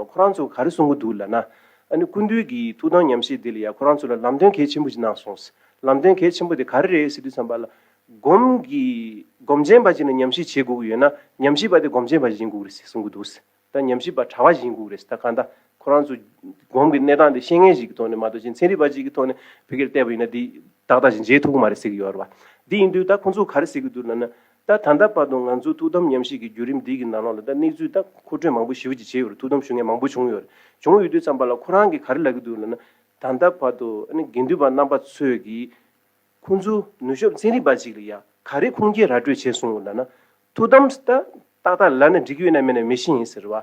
ཁོ་རང་ཚོ་ག་རེ་གསུང་གི་འདུག་ལབ་ན། ཨ་ནི་ཀུན་འདུས་ཀྱི་ཐུགས་དམ་ཉམས་བཞེས་དེ་ལ་ཡང་ཁོ་རང་ཚོ་ལ་ལམ་སྟོན་གལ་ཆེན་པོ་ཅིག་གནང་སོང། ལམ་སྟོན་གལ་ཆེན་པོ་དེ་ག་རེ་རེད་ཟེར་དུས་བསམ་པ་ལ། སྒོམ་གི། སྒོམ་ཆེན་པ་ཅིག་ནི་ཉམས་བཞེས་བྱེད་དགོས་ཀྱི་ཡོད་ན། ཉམས་བཞེས་པ་དེ་སྒོམ་ཆེན་པ་ཞིག་ཡིན་དགོས་ཀྱི་རེད་ཟེར་གསུང་གི་འདུག། ད་ཉམས་བཞེས་པ་གྲྭ་བ་ཞིག་ཡིན་དགོས་ཀྱི་རེད་ཟེར་ད་གང་ལྟ། ཁོ་རང་ཚོ། སྒོམ་གི་གནས་སྟངས་དེ་ཤེས་མཁན་ཞིག་གི་ཐོག་ནས་མ་གཏོགས་ཅིག་ཚན་རིག་པ་ཅིག་གི་ཐོག་ནས་བོད་སྐད་བལྟས་པ་ཡིན་ན་དེ། ཏག་ཏག་ཅིག་མཇལ་ཐུབ་ཀྱི་མ་རེད་ཟེར་གྱི་ཡོད་རེད་པ། དེ་ཡིན་དུས་ད་ཁོང་ཚོ་ག་རེ་ཟེར་གྱི་འདུག་ལབ་ན། ད་ད་ལྟ་བར་དུ་ང་ཚོས་ཐུགས་དམ་ཉམས་བཞེས་ཀྱི་བརྒྱུད་རིམ་འདི་ཡི་ནང་ལོགས་ལ་ད་གནས་ཚུལ་ད་མཁོ་སྤྲོད་མང་པོ་ཞི་བ་ཅིག་བྱས་ཡོད་རེད་ཐུགས་དམ་ཞུ་མཁན་མང་པོ་བྱུང་ཡོད་རེད་བྱུང་ཡོད་དུས་ཙམ་པ་ལ་ཁོ་རང་གིས་ག་རེ་ལབ་ཀྱི་འདུག་ལབ་ན། ད་ལྟ་བར་དུ་ཨ་ནི་དགེ་འདུན་པ་རྣམ་པ་ཚོས་ཀྱིས་ཁོང་ཚོའི་ནུས་ཤོབ་ཚན་རིག་པ་ཅིག་ལ་ཡ་ག་རེ་ཁུངས་སྐྱེལ་ར་སྤྲོད་བྱས་སོང་ལབ་ན། ཐུགས་དམ་ད་ཏག་ཏག་ལབ་ན་འགྲིག་གི་ཡོད་ན་མེད་ན་མི་ཤེས་ཡིན་ཟེར་བ།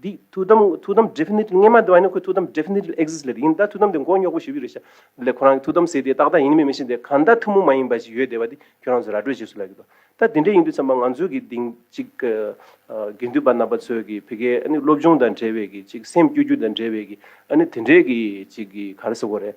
འདི་ཐུགས་དམ་ཐུགས་དམ definitely སྔས་མ་བདེ་བ་ནི་ཁོའི་ཐུགས་དམ definitely exist ལེ་ཡིན་ད་ཐུགས་དམ་དེ་མགོ་རྙོག་པོ་ཞིག་བུད་རེད་ཤག་ལེ་ཁོ་རང་གི་ཐུགས་དམ་ཟེར་དེ་ཏག་ཏག་ཡིན་མིན་མི་ཤེས་དེ་གང་ད་ཐུགས་མོ་མ་ཡིན་པ་ཞིག་ཡོད་བདེ་བ་དེ་ཁྱོད་རང་ཚོས་ར་སྤྲོད་བྱེད་སུ་ལ་གི་ད་དེ་འདྲས་ཡིན་དུས་ཚང་མ་ང་ཚོའི་གི་དེང་ཅིག་གི་དགེ་འདུན་པ་རྣམ་པ་ཚོས་གི་བི་གའི་ཨ་ནི་སློབ་སྦྱོང་དང་འབྲེལ་བའི་གི་ཅིག་སེམས་སྐྱོ་རྒྱུ་དང་འབྲེལ་བའི་གི་ཨ་ནི་དེ་འདྲས་གི་ཅིག་གི་ག་རེ་ཟེར་བ་རེད་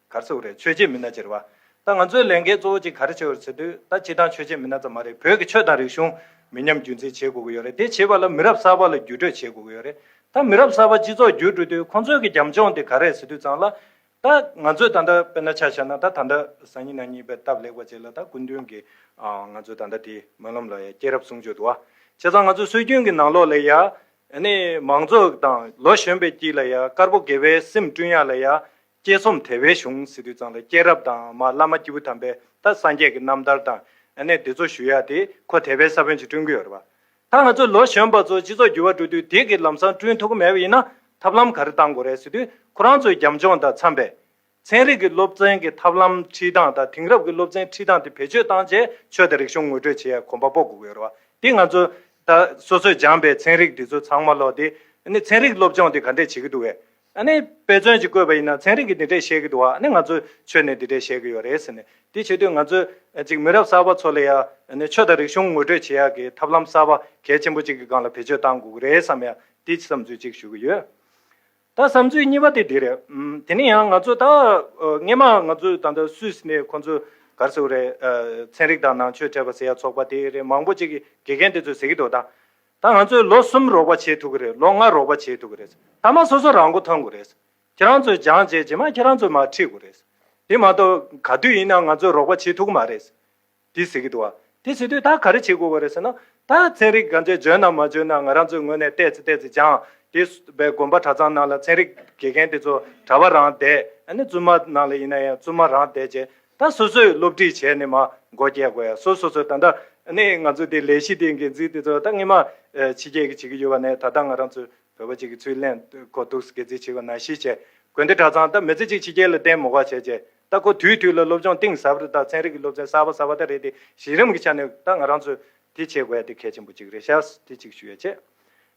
གར་ཚོགས་རེད་ཆོས་བྱེད་མི་སྣ་ཅེར་བ། ད་ང་ཚོའི་ལས་འགན་གཙོ་བོ་གཅིག་ག་རེ་བྱེད་འོས་ཟེར་དུས་ད་སྤྱི་བཏང་ཆོས་བྱེད་མི་སྣ་ཙམ་མ་རེད་བོད་ཀྱི་ཆོས་དང་རིག་གཞུང་མི་ཉམས་རྒྱུན་འཛིན་བྱེད་དགོས་ཀྱི་ཡོད་རེད་དེ་བྱེད་པ་ལ་མི་རབས་གསར་པ་ལ་བརྒྱུད་སྤྲོད་བྱེད་དགོས་ཀྱི་ཡོད་རེད་ད་མི་རབས་གསར་པ་སྤྱི་ཚོགས་བརྒྱུད་སྤྲོད་དུས་ཁོང་ཚོས་ཀྱི་རྒྱབ་ལྗོངས་དེ་ག་རེད་ཟེར་དུས་ཙང་ལ། ད་ང་ཚོས་ད་ལྟ་དཔེར་ན་ཆ་བཞག་ན་ད་ད་ལྟ་སང་ཉིན་ན་ཉིན་པའི་སྟབས་ལེགས་པ་བྱས་ལ་ད་སྐུ་མདུན་གྱི་ང་ཚོའི་ད་ལྟ་དེ་སྨོན་ལམ་ལ་ཡ་སྐྱེས་རབས་གསུང་ཆོས་དུ་བ་བྱས་ཙང་ང་ཚོའི་སྲོལ་རྒྱུན་གྱི་ནང་ལོགས་ལ་ཡ། ནི་མང་གཙོ་དང་ལོ་གཞོན་པའི་དཀྱིལ་ལ་ཡ་དཀར་པོ་དགེ་བའི་སེམས་བསྐྲུན་ཡ་ལ་ཡ། དཔྱད་རྩོམ་དེ་བའི་གཞུང་སི་ཏུ་གཙང་ལ་སྐྱེས་རབས་དང་མ་བླ་མ་སྐྱེས་བུ་དམ་པའི་ད་སངས་རྒྱས་ཀྱི་རྣམ་ཐར་དང་ཨ་ནེ་འདི་ཚོ་ཞུ་ཡག་དེ་ཁོ་དེ་བའི་ས་བོན་ཅིག་བསྐྲུན་གི་ཡོད་རེད་པ། ད་ང་ཚོ་ལོ་གཞོན་པ་ཚོ་སྤྱི་ཚོགས་འགྱུར་བ་འགྲོ་དུས་དེ་གི་ལམ་སང་བསྐྲུན་ཐུབ་གི་མེད་པ་ཡིན་ན་ཐབས་ལམ་ག་རེ་གཏང་དགོས་རེད་སི་ཏུ་ཁོ་རང་ཚོའི་རྒྱབ་ལྗོངས་དང་འཚམས་པའི། ཚན་རིག་གི་སློབ་ཚན་གི་ཐབས་ལམ་ཁྲིད་སྟངས་དང་དེང་རབས་ཀྱི་སློབ་ཚན་ཁྲིད་སྟངས་དེ་བེད་སྤྱོད་བཏང་རྗེས་ཆོས་དང་རིག་གཞུང་ངོ་སྤྲོད་བྱེད་ཡག་གོམ་པ་སྤོ་དགོས་གི་ཡོད་རེད་པ། དེ་ང་ཚོ་ད་སོ་སོས་སྦྱངས་པའི་ཚན་རིག་འདི་ཚོ་ཚང་མ་ལོག་དེ་ཨ་ནེ་ཚན་རིག་སློབ་སྦྱོང་དེ་ག་འདྲས་བྱེད་གི་འདུག་བས། ཨ་ནི་དཔེ་མཚོན་གྱིས་བཀོད་པ་ཡིན་ན་ཚན་རིག་གིས་འདི་འདྲས་བཤད་གི་འདུག་ཨ་ནི་ང་ཚོས་ཆོས་ནས་འདི་འདྲས་བཤད་གི་ཡོད་རེད་ཟེར་ནས་དེ་བྱེད་དུས་ང་ཚོས་གཅིག་མི་རབས་གསར་པ་ཚོ་ལ་ཡ་ནི་ཆོས་དང་རིག་གཞུང་ངོ་སྤྲོད་བྱེད་ཡག་གི་ཐབས་ལམ་གསར་པ་གལ་ཆེན་པོ་གཅིག་གི་སྒང་ལ་བེད་སྤྱོད་བཏང་དགོས་གི་རེད་བསམ་ཡ་དེ་བསམ་ཚུལ་གཅིག་ཞུ་གི་ཡོད། ད་བསམ་ཚུལ་གཉིས་པ་དེ་འདི་རེད། དེ་ནི་ཡང་ང་ཚོས་ད་སྔས་མ་ང་ཚོས་ད་ལྟ་སུས་ནས་ཁོང་ཚོས་གར་ཟེར་བ་རེད། ཚན་རིག་དང་ནང་ཆོས་བྲལ་བ་ཟེར་ཡ་ཚོགས་པ་དེ་རེད་མང་པོ་གཅིག་གི་དགེ་རྒན་དེ་ཚོས་ཟེར་གི་འདུག་ད། ད་ང་ཚོས་ལོ་གསུམ་རོགས་པ་བྱེད་ཐུབ་ཀྱི་རེད་ལོ་ལྔ་རོགས་པ་བྱེད་ཐུབ་ཀྱི་རེད་ཐ་མ་སོ་སོ་རང་མགོ་ཐོན་དགོས་རེད། ཁྱེད་རང་ཚོས་སྦྱང་བྱས་རྗེས་མ་ཁྱེད་རང་ཚོས་མ་ཁྲིད་དགོས་རེད། དེ་མ་གཏོགས་ག་དུས་ཡིན་ནའང་ང་ཚོས་རོགས་པ་བྱེད་ཐུབ་ཀྱི་མ་རེད། དེ་ཟེར་གྱི་འདུག་བ། དེ་བྱེད་དུས་ད་ག་རེ་བྱེད་དགོས་རེད་ཟེར་ན། ད་ཚན་རིག་ག་ཚོད་འཇོན་ནམ་མ་འཇོན་ན་ང་རང་ཚོའི་ངོས་ནས་བལྟས་ཚེ་བལྟས་ཚེ་སྦྱངས་དེ་བས་དགོན་པ་གྲྭ་ཚང་ནང་ལ་ཚན་རིག་དགེ་རྒན་དེ་ཚོ་གྲྭ་བ་རང་བསྡད་ནས་བཙུན་མ་ནང་ལ་ཡིན་ན་ཡང་བཙུན་མ་རང་བསྡད་རྗེས་ད་སོ་སོས་སློབ་ཁྲིད་བྱས་ནས་མ་མགོ་སྐྱེ་དགོས་ཡ་སོ་སོ་སོས་ད་ལྟ་ནས་ང་ཚོས་དེ་ལས་གཞི་དེ་འགན་འཛིན་དེ་ཚོ་ད་སྔོན་མ་ཕྱི་རྒྱལ་གྱི་བྱེད་ཀྱི་ཡོད་པ་ནས་ད་ལྟ་ང་རང་ཚོས་བོད་པ་གཅིག་གི་ཚུལ་ལེན་དགོས་འདུག་སྒེར་རྩིས་བྱེད་དགོས་ན་གཞི་བྱས་དགོས་འདི་གྲྭ་ཚང་ད་མི་ཚེ་གཅིག་ཕྱི་རྒྱལ་ལ་བསྟན་མོ་ག་བྱས་བྱས་ད་ཁོ་དུས་དུས་ལ་སློབ་སྦྱོང་གཏིང་ཟབ་རེ་ད་ཚན་རིག་གི་སློབ་ཚན་གསར་པ་གསར་པ་ད་རེད་དེ་གཞི་རིམ་གྱི་ཆ་ནས་ད་ང་རང་ཚོས་དེ་བྱེད་དགོས་ཡ་དེ་གལ་ཆེན་པོ་གཅིག་རེད་ཤག་དེ་གཅིག་ཞུ་ཡ་བྱས།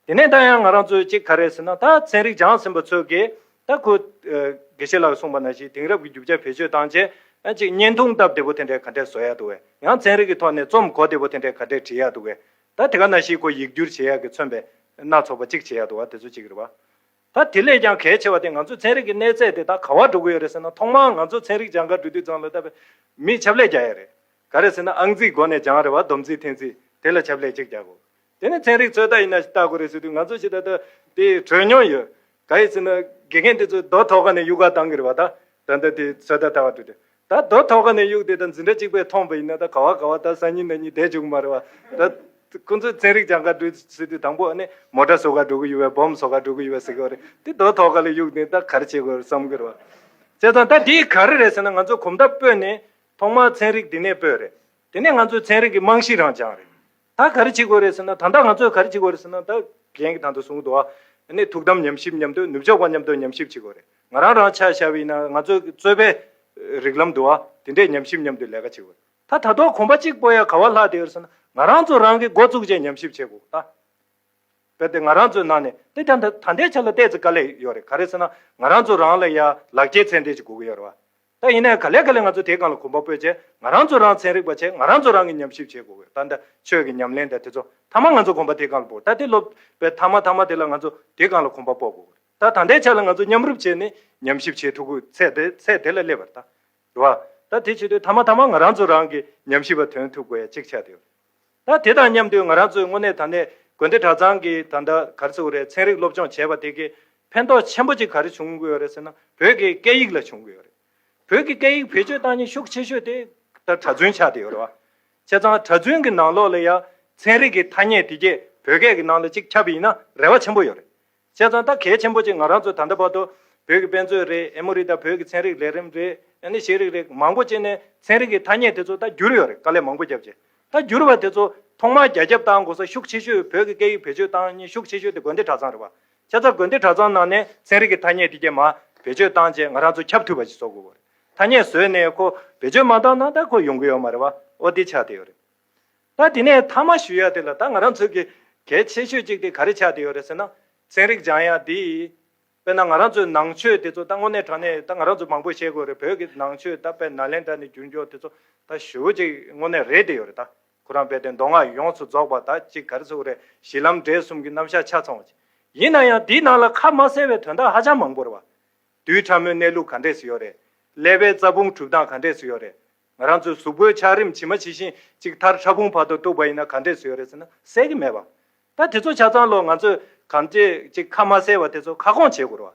དེ་ནས་ད་ཡང་ང་རང་ཚོས་གཅིག་ག་རེ་ཟེར་ན་ད་ཚན་རིག་སྦྱངས་ཟིན་པ་ཚོས་ཀྱིས་ད་ཁོ། དགེ་བཤེས་ལགས་གསུངས་པ་ན་ཞིག་དེང་རབས་ཀྱི་རྒྱུ་ཆ་བེད་སྤྱོད་བཏང་རྗེས་གཅིག་བརྙན་ཐུང་སྟབས་བདེ་པོ་དེ་འདྲའི་ག་འདྲས་བཟོ་ཡག་འདུག་བས་ཡང་ཚན་རིག་གི་ཐོག་ནས་རྩོམ་གོ་བདེ་པོ་དེ་འདྲའི་ག་འདྲས་བྲིས་ཡག་འདུག་བས་ད་དེ་ག་ན་ཞིག་ཁོ་ཡིག་སྒྱུར་བྱེད་ཡག་གི་མཚོན་པའི་སྣ་ཚོགས་པ་གཅིག་བྱེད་ཡག་འདུག་བ་དེ་ཚོ་གཅིག་རེད་བ། ད་དེ་ལས་ཀྱང་གལ་ཆེ་བ་དེ་ང་ཚོས་ཚན་རིག་གི་གནས་ཚད་དེ་ད་ག་བར་འགྲོ་གི་ཡོད་རེད་ཟེར་ན་ཐོག་མར་ང་ཚོ་ཚན་རིག་སྦྱང་ག་འབྲུ་དུས་ཚང་ལ་ད་བས་མི་ཆབ་ལས་རྒྱག་ཡག་རེད། ག་རེ་ཟེར་ན་ཨང་རྩིས་སྒོ་ནས་སྦྱང་རེད་བ་བསྡོམས་རྩིས་ཐེངས་རྩིས་དེ་ལ་ཆབ་ལས་གཅིག་རྒྱག་དགོས། དེ་ནི་ཚན་རིག་ཚོད་ལྟ་ཡིན་ན་ལྟ་དགོས་རེད་ཟེར་དུས་ང་ཚོ་ཞིག་ད་ལྟ་དེ་གྲོས་མྱོང་ཡོད། ག་ཡི་ཟེར་ན་དགེ་རྒན་དེ་ཚོས་རྡོ་ཐོག་ཁ་ནས་གཡུགས་ག་དང་གི་རེད་བ་ད། ད་ལྟ་དེ་ཚོད་ལྟ་ལྟ་བ་འགྲོ་དུས་ད་རྡོ་ཐོག་ཁ་ནས་གཡུགས་དེ་ད་འཛིན་གྲྭ་གཅིག་པས་མཐོང་བ་ཡིན་ན་ད་ག་བ་ག་བ་ད་སང་ཉིན་ད་ཉིན་བསྡད་བཅུག་གི་མ་རེད་བ་ད། ཁོང་ཚོས་ཚན་རིག་སྦྱང་ག་འགྲོ་ཟེར་དུས་དང་པོ་ཨ་ནི་མོ་སྒྲ་བཟོ་ག་འགྲོ་གི་ཡོད་བས་སྦོམ་བཟོ་ག་འགྲོ་གི་ཡོད་བས་ཟེར་གི་བ་རེད་དེ་རྡོ་ཐོག་ཁ་ལ་གཡུགས་དེ་ད་ག་རེ་བྱེད་དགོས་རེད་བསམ་གི་རེད་བ། བྱས་ཙང་ད་དེ་ག་རེ་རེད་ཟེར་ན་ང་ཚོས་གོམ་སྟབས་སྤོས་ནས་ཐོག་མར་ཚན་རིག་དེ་ནས་སྤོས་རེད། དེ་ནས་ང་ཚོས་ཚན་རིག་གི་རྨང་གཞི་རང་བཅངས་རེད། ད་ག་རེ་བྱེད་དགོས་རེད་ཟེར་ན་ད་ལྟ་ང་ཚོས་ག་རེ་བྱེད་དགོས་རེད་ཟེར་ན་ད་གཞན་གྱི་དང་དུ་བཟུང་དུ་ནས་ཐུགས་དམ་ཉམས་ཞིབ་མཉམ་དུ་ནུབ་ཕྱོགས་པ་མཉམ་དུ་ཉམས་ཞིབ་བྱེད་དགོས་རེད་ང་རང་རང་ཆ་ཤར་བས་ན་ང་ཚོའི་རྩོད་པའི་རིགས་ལམ་དུ་དེ་འདྲས་ཉམས་ཞིབ་མཉམ་དུ་ལས་ཀ་བྱེད་དགོས་རེད་ད་ད་དོག་གོམ་པ་གཅིག་སྤོ་ཡ་ག་བ་ལྷག་དེ་ཡོད་ཟེར་ན་ང་རང་ཚོ་རང་གིས་འགོ་བཙུགས་རྗེས་ཉམས་ཞིབ་བྱེད་དགོས་ད་གལ་ཏེ་ང་རང་ཚོའི་ནང་ནས་དེ་ད་ད་ལྟའི་ཆ་ལ་བལྟས་ཚེ་དཀའ་ལས་ཡོད་རེད་ག་རེ་ཟེར་ན་ང་རང་ཚོ་རང་ལ་ཡར་ལག་ཁྱེད་ཚད་འདྲེས་ཀྱི་སྒུག་གི་ཡོད་རེད་བ་ད་ཡིན་ནའི་ག་ལེ་ག་ལེ་ང་ཚོ་དེའི་སྒང་ལ་གོམ་པ་སྤོས་རྗེས་ང་རང་ཚོ་རང་ཚན་རིག་པ་ཆེད་ང་རང་ཚོ་རང་གིས་ཉམས་ཞིབ་བྱེད་དགོས་གོ་ད་ད་ཆོས་ཀྱི་ཉམས་ལེན་དེ་དེ་ཚོ་མཐའ་མ་ང་ཚོ་གོམ་པ་དེའི་སྒང་ལ་སྤོ་ད་དེ་སློབ་པའི་མཐའ་མ་མཐའ་མ་དེ་ལ་ང་ཚོ་དེའི་སྒང་ལ་གོམ་པ་སྤོ་དགོས་གོ་ད་ད་ལྟའི་ཆ་ལ་ང་ཚོ་མཉམ་རུབ་བྱས་ནས་ཉམས་ཞིབ་བྱེད་ཐུབ་གོ་ཚད་དེ་ཚད་དེ་ལ་སླེབས་པར་ད་རེད་བ། ད་དེ་བྱེད་དུས་མཐའ་མ་མཐའ་མ་ང་རང་ཚོ་རང་གིས་ཉམས་ཞིབ་པ་དོན་ཐུབ་དགོས་ཡ་གཅིག་ཆ་དེ་ད་དེ་དང་མཉམ་དུ་ང་རང་ཚོས་དངོས་གནས་ད་ནས་དགོན་སྡེ་གྲྭ་ཚང་གི་ད་ལྟ་ག་རེ་ཟེར་བ་རེད་ཚན་རིག་སློབ་སྦྱོང་བྱས་པ་དེ་གས་ཕན་ཐོགས་ཆེན་པོ་ཅིག་ག་རེ་བྱུང་དགོས་ཡོད་རེད་ཟེར་ན་བོད་ཀྱི་སྐད་ཡིག་ལ་བྱུང་དགོས་ཡོད་རེད། བོད་ཀྱི་སྐད་ཡིག་བེད་སྤྱོད་བཏང་ཉིན་ཤུགས་ཆེ་ཤོས་དེ་ད་གྲྭ་བཙུན་ཆགས་བསྡད་ཡོད་རེད་བ། བྱས་ཙང་གྲྭ་བཙུན་གྱི་ནང་ལོགས་ལ་ཡང་ཚན་རིག་གི་ཐ་སྙད་དེ་གས་བོད་སྐད་ཀྱི་ནང་ལ་ཅིག་ཁྱབ་ཡིན་ན་རེ་བ་ཆེན་པོ་ཡོད་རེད། བྱས་ཙང་ད་གལ་ཆེན་པོ་གཅིག་ང་རང་ཚོ་ད་ལྟ་བར་དུ། བོད་ཀྱི་དཔེ་མཛོད་རེད་ཨེ་མོ་རེད་ད་བོད་ཀྱི་ཚན་རིག་ལས་རིམ་རེད་ཨེ་ནི་ཤེས་རིག་རེད་མང་པོ་བྱས་ནས་ཚན་རིག་གི་ཐ་སྙད་དེ་ཚོ་ད་བསྒྱུར་ཡོད་རེད་དཀའ་ལས་མང་པོ་བརྒྱབ་རྗེས་ད་བསྒྱུར་བ་དེ་ཚོ། ཐོག་མར་རྒྱ་ཁྱབ་གཏང་དགོས་ས་ཤུགས་ཆེ་ཤོས་བོད་ཀྱི་སྐད་ཡིག་བེད་སྤྱོད་གཏང་སྙིང་ཤུགས་ཆེ་ཤོས་དེ་དགོན་སྡེ་གྲྭ་ཚང་རེད་བ། ཁྱེད་ཚ་དགོན་སྡེ་གྲྭ་ཚང་ནང་ནས་ཚན་རིག་གི་ཐ་སྙད་དེ་རྐྱེན་མ་བེད་སྤྱོད་གཏང་རྗེས་ང་རང་ཚོ་ཁྱབ་འཐུས་པ་ཞིག་བཟོ་དགོས་བ་རེད་ཐ་སྙད་བཟོས་ནས་ཁོ་བེད་སྤྱོད་མ་གཏང་ན་ད་ཁོ་ཡོང་གི་ཡོད་མ་རེད་བ་འོ་དེ་ཆ་དེ་ཡོད་རེད། ད་དེ་ནས་མཐའ་མ་ཞུ་ཡ་དེ་ལ་ད་ང་རང་ཚོས་གལ་ཆེ་ཤོས་གཅིག་དེ་ག་རེ་ཆགས་དེ་ཡོད་རེད་ཟེར་ན་ཚན་རིག་སྦྱང་ཡ་དེ་ཡིན། དཔེར་ན་ང་རང་ཚོའི་ནང་ཆོས་དེ་ཚོ་ད་དངོས་གནས་དྲ་གནས་ད་ང་རང་ཚོས་མང་པོ་ཤེས་དགོས་རེད་བོད་ཀྱི་ནང་ཆོས་ད་དཔལ་ནཱ་ལེནྡྲ་ནས་འགྱུར་འགྱོག་དེ་ཚོ་ད་ཞུ་བོ་ཅིག་དངོས་གནས་རེད་དེ་ཡོད་རེད་ད་ཁོ་རང་དཔལ་ལྡན་མདོ་སྔགས་ཡོངས་སུ་རྫོགས་པ་ད་ཅིག་ག་རེ་ཚུགས་རེད་གཞི་ལམ་འབྲས་གསུམ་གྱི་རྣམ་གཞག་ཆ་ཚང་བ་ཅིག་ཡིན་ན་ཡང་དེའི་ནང་ལ་ཁ་མ་གསལ་བའི་དོན་དག་ཧ་ཅང་མང་པོ་རེད་བ། རྡུལ་ཕྲ་མོའི་གནས་ལུགས་ག་འདྲས་སུ་ཡོད་རེད། ཀླད་པའི་རྩ་ཕུང་གྲུབ་སྟངས་ག་འདྲས་སུ་ཡོད་རེད། ང་རང་ཚོའི་གཟུགས་པོའི་ཆགས་རིམ་ཇི་མ་ཇི་བཞིན་གཅིག་མཐར་ཕྲ་ཕུང་བར་དུ་གཏུགས་པ་ཡིན་ན་ག་འདྲས་སུ་ཡོད་རེད་ཟེར་ན་གསལ་གྱི་མེད་པ། ད་དེ་ཚོ་ཆ་ཚང་ལོ་ང་ཚོས་གམ་ཅི་གཅིག་ཁ་མ་གསལ་བ་དེ་ཚོ་ཁ་སྐོང་བྱེད་དགོས་རོ།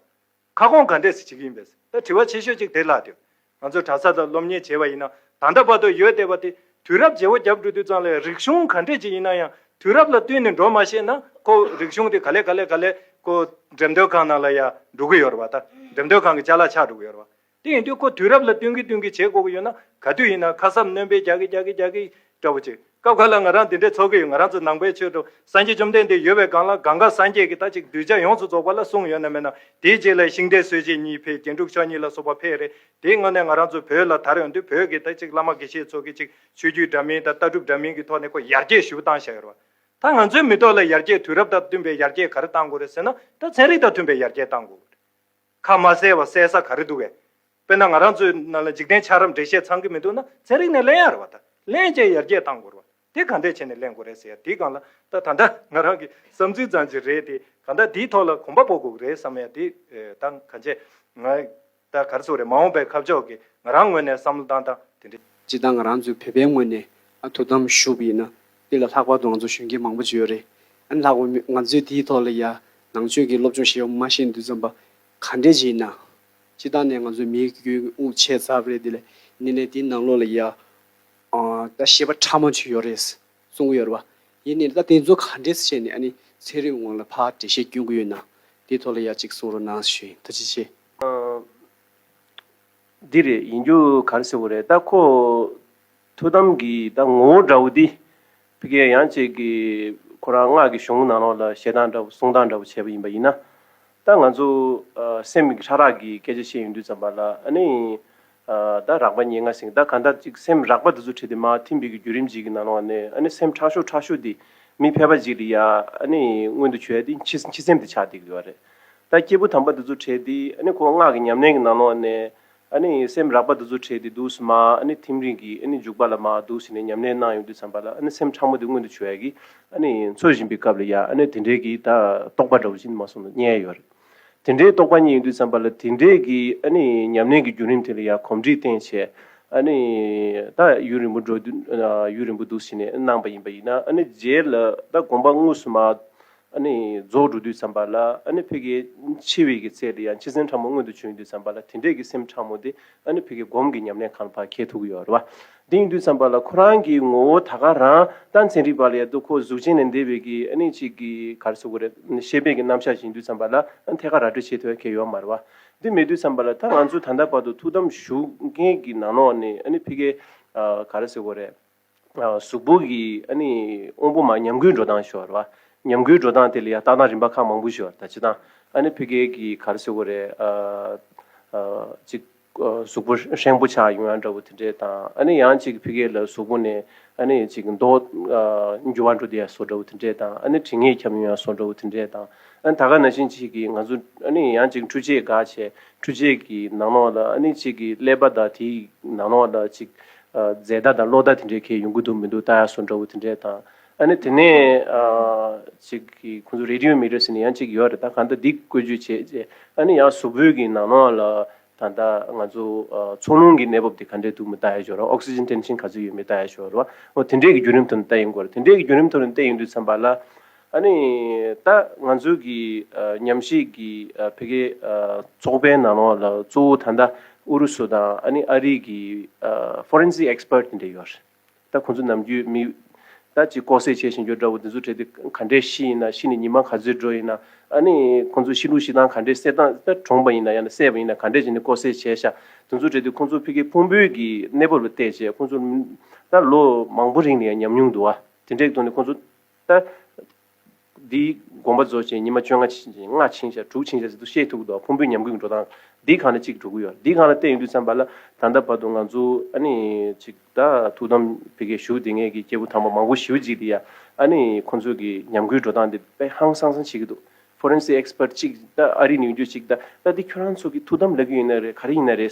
ཁ་སྐོང་ག་འདྲས་སུ་བྱེད་ཀྱི་ཡིན་པས་ད་དྲི་བ་ཆེ་ཤོས་གཅིག་དེ་ལགས་དུས་ང་ཚོས་གྲྭ་ས་དང་སློབ་གཉེར་བྱས་བ་ཡིན་ན་ད་ལྟ་བར་དུ་ཡོད་བསྡད་པ་དེ་དུས་རབས་བརྗེ་བོ་རྒྱབ་འགྲོ་དུས་ཙང་ལས་རིག་གཞུང་ག་འདྲས་ཅིག་ཡིན་ན་ཡང་དུས་རབས་ལ་བསྟུན་ནས་འགྲོ་མ་ཤེས་ན་ཁོ་རིག་གཞུང་དེ་ག་ལས་ག་ལས་ག་ལས་ཁོ་འགྲེམས་སྟོན་ཁང་ནང་ལ་ཡང་འགྲོ་གི་ཡོད་རེད་བ་ད་འགྲེམས་སྟོན་ཁང་གི་ལྕགས་ལ་ཆགས་འགྲོ་གི་ཡོད་རེད་བ། དེ་ཡིན་དུས་ཁོ་དུས་རབས་ལ་བསྟུན་གྱི་བསྟུན་གྱི་བྱེད་དགོས་ཀྱི་ཡོད་ན་ག་དུས་ཡིན་ན་ཁ་སབ་ནོན་པའི་རྒྱག་གི་རྒྱག་གི་རྒྱག་གི་འདྲ་བོ་བྱེད་སྐབས་ཁ་ལ་ང་རང་འདི་འདྲས་འཚོ་གི་ཡོད་ང་རང་ཚོ་ནང་པའི་ཆོས་དྲུག་སངས་རྒྱས་བཅོམ་ལྡན་འདས་ཡོད་པའི་སྒང་ལ་གང་གཱ་སངས་རྒྱས་ཀྱི་ད་ཅིག་གདུལ་བྱ་ཡོངས་སུ་རྫོགས་པ་ལ་གསུངས་ཡོད་ན་མེད་ན་དེའི་རྗེས་ལ་ཤིང་རྟའི་སྲོལ་འབྱེད་གཉིས་འཕེལ་རྒྱན་དྲུག་ཕྱོགས་གཉིས་ལ་སོགས་པ་འཕེལ་རེད་དེའི་སྔོན་ནས་ང་རང་ཚོ་བོད་ལ་དར་ཡོང་དུས་བོད་ཀྱི་ད་ཅིག་བླ་མ་དགེ་བཤེས་ཚོ་གི་ཅིག་ཆོས་བརྒྱུད་འདྲ་མིན་དང་ལྟ་གྲུབ་འདྲ་མིན་གྱི་ཐོག་ནས་ཁོ་ཡར་རྒྱས་ཞུ་སྟངས་བྱ་ཡོད་རེད་བ། ད་ང་ཚོའི་མི་ཐོག་ལ་ཡར་རྒྱས་དུས་རབས་དང་བསྟུན་པའི་ཡར་རྒྱས་ག་རེ་གཏང་དགོས་རེད་ཟེར་ན་ད་ཚན་རིག་དང་མཐུན་པའི་ཡར་རྒྱས་གཏང་དགོས་རེད། ཁ་མ་གསལ་བ་གསལ་ས་ག་རེ་འདུག་གས། དཔེར་ན་ང་རང་ཚོའི་ནང་ལ་འཇིག་རྟེན་ཆགས་རབས་འགྲེལ་བཤད་ཚང་གི་མི་འདུག་ན་ཚན་རིག་ནས་གླེང་ཡར་བ་ད་གླེང་བཅས་ཡར་རྒྱས་བཏང་དགོས་ར་བ་དེ་ག་འདྲས་བྱས་ནས་གླེང་དགོས་རེད་ཟེར་ཡ་དེ་གང་ལ་ད་ད་ལྟ་ང་རང་གི་བསམ་ཚུལ་ཙང་ཅིག་རེད་དེ་ག་ད་དེའི་ཐོག་ལ་གོམ་པ་སྤོ་དགོས་རེད་བསམ་ཡ་དེ་ད་ག་འཇས་ང་ད་ག་རེ་སོ་རེད་མ་འོངས་པའི་ཁ་ཕྱོགས་གི་ང་རང་ངོས་ནས་བསམ་བློ་བཏང་སྟངས་དེ་འདྲ། སྤྱི་དང་ང་རང་ཚོའི་བོད་པའི་ངོས་ནས་ཨ་དོ་དམ་ཞུགས་ཡིན་ན་འདི་ལ་ལྷག་པར་དུ་ང་ཚོ་གཞོན་སྐྱེས་མང་པོ་བྱས་ཡོད་རེད། ཨན་ལྷག་པར་ང་ཚོས་དེའི་ཐོག་ལ་ཡང་ནང་ཆོས་ཀྱི་སློབ་སྦྱོང་བྱས་ཡོད་མ་ཤེས་འདུག་བསམ་པ་ག་འདྲས་བྱས་ཡིན་ན། སྤྱི་བཏང་ནས་ང་ཚོའི་མིའི་རྒྱུན་དབུགས་ཆད་ཚར་བ་རེད་དེ་ལས་ནི་ནས་དེའི་ནང་ལོགས་ལ་ཡང། ད་བཤད་པ་ཕྲ་མོ་བྱས་ཡོད་རེད་གསུང་གི་ཡོད་རེད་བ། ཡིན་ནའི་ད་དེ་ཚོ་ག་འདྲས་བྱས་ནས་ཨ་ནི་ཚན་རིག་ངོས་ལ་ཕ་འགྲེལ་བཤད་སྐྱོན་གྱི་ཡོད་ན། དེའི་ཐོག་ལ་ཡང་གཅིག་གསུང་རོགས་གནང་ཞུ་ད་ཅི་བྱས། འདི་རེད་ཡིན་རྒྱུ་ག་རེ་ཟེར་བ་རེད་ད་ཁོ། ཐུགས་དམ་གྱི་ད་ངོ་བོ་འདྲ་བོ་འདི། ཕི་ཀའི་ཡང་ཅིག་གི། ཁོ་རང་སྔགས་ཀྱི་གཞུང་ནང་ལོགས་ལ་བཤད་སྟངས་འདྲ་བོ་གསུང་སྟངས་འདྲ་བོ་བྱས་པ་ཡིན་པ་ཡིན་ན། ད་ང་ཚོ། སེམས་ཀྱི་ཕྲ་རགས་ཀྱི་སྐད་ཆ་བཤད་ཡོང་དུས་ཙམ་པ་ལ་ཨ་ནི། ད་རགས་པ་ཉེ་ང་སིང་ད་ག་འདྲ་ཅིག་སེམས་རགས་པ་འདི་ཚོ་ཁྲིད་དེ་མ་ཐིམ་པའི་གི་རྒྱུད་རིམ་གྱིས་གི་ནང་ལོགས་ནས་ཨ་ནི་སེམས་ཕྲ་ཤོས་ཕྲ་ཤོས་འདི། མི་ཕལ་པ་ཅིག་ལ་ཡ་ཨ་ནི་མངོན་དུ་བྱོས་དེ་འཆི་འཆི་སེམས་དེ་ཆགས་དེ་གི་བ་རེད། ད་སྐྱེས་བུ་དམ་པ་འདི་ཚོ་ཁྲིད་དེ་ཨ་ནི་ཁོ་སྔགས་ཀྱི་ཉམས་ལེན་གྱི་ནང་ལོགས་ནས། ཨ་ནི་སེམས་རགས་པ་འདི་ཚོ་ཁྲེལ་ཏེ་འདུག་སི་མ་ཨ་ནི་ཐིམ་རིང་གིས་ཨ་ནི་འཇུག་པ་ལ་མ་འདུག་སི་ནས་ཉམས་ལེན་གནང་ཡོང་དུས་བསམ་པ་ལ་ཨ་ནི་སེམས་ཕྲ་མོ་དེ་མངོན་དུ་བྱུང་ཡ་གིས་ཨ་ནི་འཚོ་བཞིན་པའི་སྐབས་ལ་ཡ་ཨ་ནི་དེ་འདྲས་གིས་ད་རྟོགས་པ་འདྲ་བོ་ཅི་འདི་མ་སོང་དུ་བསྙལ་ཡོད་རེད། དེ་འདྲའི་རྟོགས་པ་གཉིས་ཡོང་དུས་བསམ་པ་ལ་དེ་འདྲས་གིས་ཨ་ནི་ཉམས་ལེན་གྱི་རྒྱུན་རིམ་དེ་ལ་ཡ་གོམས་འདྲིས་བརྟན་བྱས་ཨ་ནི་ད་ཡུན་རིང་པོ་འགྲོ་དུས་ཡུན་རིང་པོ་འདུག་སི་ནས་གནང་པ་ཡིན་པ་ཡིན་ན་ཨ་ནི་རྗེས་ལ་ད་དགོངས་པ་དངོས་སུ་མ་རྫོགས་འགྲོ་དུས་བསམ་པ་ལ། ཕི་གའི་འཆི་བའི་གི་ཚེ་དེ་ཡང་འཆི་སེམས་ཕྲ་མོ་མངོན་དུ་བྱུང་དུས་བསམ་པ་ལ་དེ་འདྲའི་གི་སེམས་ཕྲ་མོ་དེ། ཕི་གའི་སྒོམ་གི་ཉམས་ལེན་གང་བར་ཁྱེད་ཐུག་ཡོད་རེད་བ། དེ་ཡིན་དུས་བསམ་པ་ལ་ཁོ་རང་གི་ངོ་བོ་ད་ག་རང་ལྟ་མཚན་རིག་པ་ལ་ཡ་ཏུ་ཁོ་གཟུགས་ཅན་ནས་འདས་པའི་གི་ཅིག་གི་གར་སོ་གོ་རེ། ཤེས་དཔལ་གི་རྣམ་གཞག་བཞིན་དུས་བསམ་པ་ལ་ཐད་ཀར་ར་སྤྲོད་བྱེད་ཐུ་ག་ཡོད་མ་རེད་བ། དེ་མེད་དུས་བསམ་པ་ལ་ད་ང་ཚོ་ད་ལྟ་བར་དུ་ཐུགས་དམ་བཞུགས་མཁན་གི་ནང་ནོག་ནས་ཕི་གའི་གར་སོ་གོ་རེ། གཟུགས་པོ་གི་དབང་པོ་མ་ཉམས་རྒུད་འགྲོ་སྟངས་ཞུ་བ་རེད་བ། ཉམས་རྒུད་འགྲོ་སྟངས་དེ་ལ་ཡང་ལྟ་སྟངས་རིམ་པ་ཁག་མང་པོ་ཞུ་བ་རེད་ད་ཅི་སྟངས་ཨ་ནི་ཕི་གེ་གི་གར་སེ་བོ་རེད། ཅིག་གཟུགས་པོ་ཧྲེང་པོ་ཆགས་ཡོང་ཡ་འདྲ་བོ་དེ་འདྲས་དང་ཨ་ནི་ཡང་ཅིག་ཕི་གེ་ལ་གཟུགས་པོ་ནས་ཨ་ནི་ཅིག་མདོག་འགྱུར་བ་འགྲོ་དེ་ཡ་སོ་འདྲ་བོ་དེ་འདྲས་དང་ཨ་ནི་དྲི་ངད་ཁྱབ་ཡོང་ཡ་སོ་འདྲ་བོ་དེ་འདྲས་དང་ཨ་ནི་ད་ག་ན་བཞིན་ཅིག་གིས་ང་ཚོ་ཨ་ནི་ཡང་ཅིག་འཕྲུལ་ཆས་འགའ་བྱས་འཕྲུལ་ཆས་ཀྱི་ནང་ལོགས་ལ་ཨ་ནི་ཅིག་གིས་ཀླད་པ་དང་དེའི་ནང་ལོགས་ལ་ཅིག་རྫས་བདག་དང་གློག་བདག་དེ་འདྲའི་ཁེ་ཡོང་གི་འདུག་མི་འདུག་རྟ་ཡག་སོ་འདྲ་བོ་དེ་འདྲའི་དང། ཨ་ནི་དེ་ནས་ཅིག་གིས་ཁོང་ཚོ་རེ་ལྟུང་མི་རེ་ཟེར་ནས་ཡང་ཅིག་ཡོད་རེད་ད་གང་ལྟར་འདི་བཀོད་བྱུས་བྱས་རྗེས་ཨ་ནི་ཡང་གཟུགས་པོད་ཀྱི་ནང་ནང་ལ་ད་ལྟ་ང་ཚོ་ཚོགས་རླུང་གི་གནས་བབ་དེ་ག་འདྲས་འདུག་མི་རྟ་ཡག་ཞོར་ར Oxygen Tension ག་ཚོད་ཡོད་མི་རྟ་ཡག་ཞོར་ར་དེ་འདྲས་ཀྱི་རྒྱུད་རིམ་ཐོག་ནས་བལྟ་ཡོང་དགོས་རེད་དེ་འདྲས་ཀྱི་རྒྱུད་རིམ་ཐོག་ནས་བལྟས་ཡོང་དུས་མཚམས་པ་ལ། ཨ་ནི། ད་ང་ཚོའི་གི་ཉམས་ཞིབ་གི་བྷེ་གྷེ་ཚོགས་པའི་ནང་ལོགས་ལ་གཙོ་བོ་ད་ལྟ་ཨུ་རུ་སུ་དང་ཨ་ནི་ཨ་རིའི་གི Forensic Expert དེ་འདྲ་ཡོད་རེད། ད་ཁོང་ཚོ་ནམ་རྒྱུན་མི་ད་ཅིག་ལྐོག་བསད་བྱས་བཞིན་ཡོད་འདྲ་བོ་དེ་ཚོ་བྲེལ་ཏེ་ག་འདྲའི་ཤི་ཡིན་ན་ཤི་ནས་ཉི་མ་ག་ཚོད་འགྲོ་ཡིན་ན་ཨ་ནི་ཁོང་ཚོ་ཤི་ལུགས་ཤི་སྟངས་ག་འདྲའི་བསད་སྟངས་ད་གྲོངས་པ་ཡིན་ན་ཡང་ན་བསད་པ་ཡིན་ན་ག་འདྲས་བྱས་ནས་ལྐོག་བསད་བྱས་ཤག་དེ་ཚོ་བྲེལ་ཏེ་ཁོང་ཚོ་བྷེ་གྷེ་ཕུང་པོའི་གི་གནས་བབ་ལ་བལྟས་རྗེས་ཁོང་ཚོ་ད་ལོ་མང་པོ་རིང་ནས་ཡང་ཉམས་མྱོང་འདུག་ཨ་དེ་འདྲས་གཏོང་ནས་ཁོང་ཚོ། ལྟ། འདིའི་དགོངས་པ་རྫོགས་ཆེན་ཉི་མ་བཅོ་ལྔ་ལྔ་ཆིངས་ཤར་དྲུག་ཆིངས་ཤར་ཟེར་དུ་ཤེས་ཐུག་གདོང་ཕུང་པོའི་ཉམས་གུད་འགྲོ་སྟངས་འདིའི་གང་ལ་གཅིག་གྲུག་གི་ཡོད་འདིའི་གང་ལ་བལྟས་ཡོད་དུས་མཚན་པར་ལ་ད་ལྟ་བར་དུ་ང་ཚོ་ཨ་ནི་ཅིག་ད་ཐུགས་དམ་བེ་གའི་བཞུགས་དེ་སྔའི་གི་སྐྱེ་བོ་དང་པོ་མང་པོ་ཞི་བུ་འཇིག་དེ་ཡ་ཨ་ནི་ཁོ་ཚོའི་གི་ཉམས་གུད་འགྲོ་སྟངས་འདི་དཔེ་ཧང་སང་སང་བྱེད་གི་འདུག Forensic Expert ཅིག་ད་ཨ་རིའི་ནུས་རྒྱུ་ཅིག་ད་ད་འདི་ཁྱོད་རང་ཚོ་གི་ཐུགས་དམ་ལ་གི་ཡིན་ན་རེད་ག་རེ་ཡིན་ན་རེད།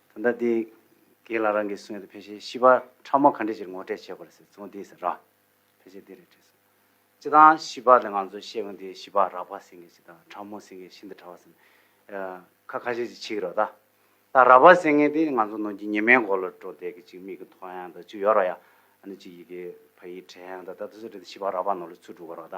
ད་ལྟ་དེ་གའི་ལ་རང་གིས་གསུངས་ཡོད་དོ་ཕལ་ཆེར་ཤི་བ་ཕྲ་མོ་ག་འདྲེ་ཅིར་ངོ་སྤྲད་བྱས་པ་རེད་ཟེར་ཚོང་དེའི་ཟེར་ར་ཕལ་ཆེར་དེ་རེད་བྲིས་སོང། སྤྱི་དང་ཤི་བ་ལས་ང་ཚོས་བཤད་གོ་འདི་ཤི་བ་རག་པ་སེང་གེ་ཅིག་དང་ཕྲ་མོ་སེང་གེ་ཤིན་ཏུ་ཕྲ་བ་ཟེར་ཁ་ཁ་ཤས་ཅིག་འཆི་གི་རོ་ད། ད་རག་པ་སེང་གེ་དེ་ང་ཚོ་ནོར་གྱི་ཉི་མའི་མགོ་ལ་འགྲོ་བསྡད་གི་ཅིག་མིག་གི་མཐོ་ཡང་དང་ཅིག་ཡོ་ར་ཡ་ཨ་ནི་ཅིག་ཡི་གེ་ཕ་ཡིག་བྲལ་ཡང་དང་ད་ད་གཟོད་དེ་ཤི་བ་རག་པ་ནོར་ལ་ཚུར་འགྲོ་གི་རོ་ད།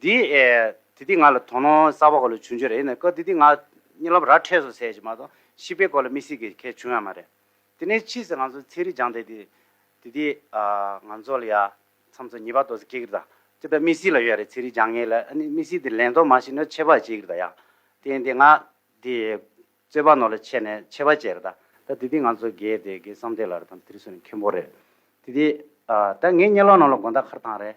འདི་ཨེ། དེ་དེ་ང་ལ་དོ་སྣང་གསར་བ་ག་ལ་བྱུང་རྒྱུ་རེད་ཡིན་ན་སྐབས་དེ་དེ་ང་གཉིད་ལམ་ར་འཕྲད་སོང་ཟེར་གྱི་མ་གཏོགས་ཤི་བའི་སྐོར་ལ་མི་སྲིད་གི་ཁེ་བྱུང་ཡ་མ་རེད། དེ་ནས་ཕྱིས་སུ་ང་ཚོ་ཚེ་རིང་སྦྱངས་ཐེངས་དེ་དེ་དེ་ང་ཚོ་ལ་ཡ་མཚམས་ཚོ་གཉིས་པ་ཏོག་ཚེ་ཁེ་གི་རྡ་དེ་ད་མི་སྲིད་ལ་ཡོད་རེད་ཚེ་རིང་སྦྱངས་ངེད་ལ་ཨ་ནི་མི་སྲིད་དེ་ལན་ཏོག་མ་ཤི་ན་ཆད་པ་བྱེད་གི་རྡ་ཡ་དེ་ཡིན་དེ་ང་དེ་རྩོད་པ་ནོར་ལ་ཆད་ནས་ཆད་པ་བྱེད་རྡ་ད་དེ་དེ་ང་ཚོ་རྒས་དེ་རྒས་བསམ་དེ་ལ་ར་དང་དེ་རིང་སོང་ནས་ཁེ་འབོ་རེད་དེ་དེ་ད་ངེད་གཉིད་ལམ་ནང་ལ་དགོན་ཟླ་ཁར་ཐང་རེད།